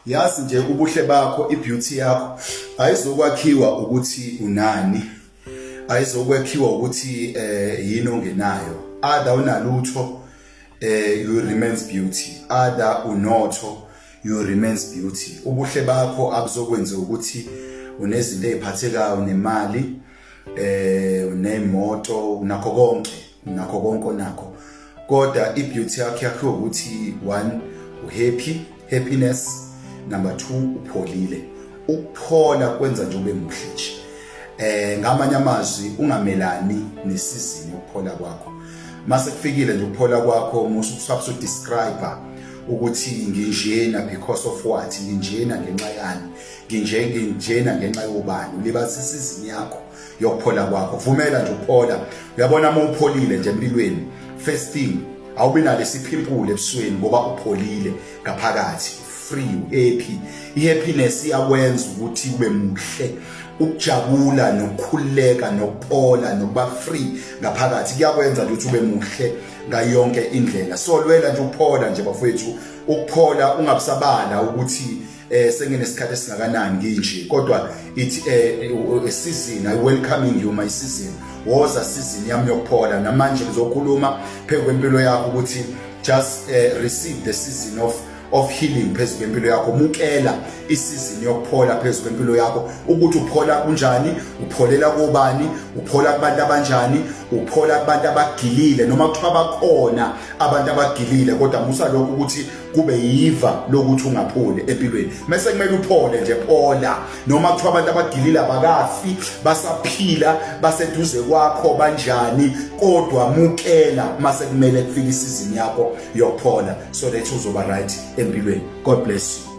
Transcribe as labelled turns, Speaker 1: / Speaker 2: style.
Speaker 1: yazi nje ubuhle bakho ibeauty yakho ayizokwakhiwa ukuthi unani ayizokwakhiwa ukuthi eh yini ongenayo ada unalutho eh you remains beauty ada unotho you remains beauty ubuhle bakho abuzokwenza ukuthi unezinto eziphathekayo nemali eh unemoto unakho konke nakho konke onakho kodwa i-beauty yakho yakhiwe ukuthi one uhappy happiness number two upholile ukuphola kwenza nje ube muhle nje eh ngamanye amazwi ungamelani nesizini yokuphola kwakho mase kufikile nje ukuphola kwakho musu kusapso describe ukuthi nginjena because of what nginjena ngenxa yani nginje nginjena ngenxa yobani ulibazisa isizini yakho yokuphola kwakho vumela nje ukuphola uyabona uma upholile nje empilweni first thing awubi nale siphimpule ebusweni ngoba upholile ngaphakathi free happy ihappiness iyakwenza ukuthi ube muhle ukujabula nokukhululeka nokuphola nokuba free ngaphakathi kuyakwenza ukuthi ube muhle ngayonke indlela so lwela nje ukuphola nje bafowethu ukuphola ungabusabala ukuthi eh senginesikhathi esingakanani nginje kodwa ithi eh season i welcoming you my season woza season yami yokuphola namanje ngizokhuluma phezu kwempilo yakho ukuthi just uh, receive the season of of healing phezu kwempilo yakho mukela isizini yokuphola phezu kwempilo yakho ukuthi uphola kunjani upholela kobani uphola kubantu abanjani uphola kubantu abagilile noma kuthiwa bakhona abantu abagilile kodwa musa lokho ukuthi kube yiva lokuthi ungapholi empilweni mese kumele uphole nje phola noma kuthiwa abantu abagilile abakafi basaphila baseduze kwakho banjani kodwa mukela mase kumele kufike isizini yakho yokuphola so that uzoba right empilweni god bless you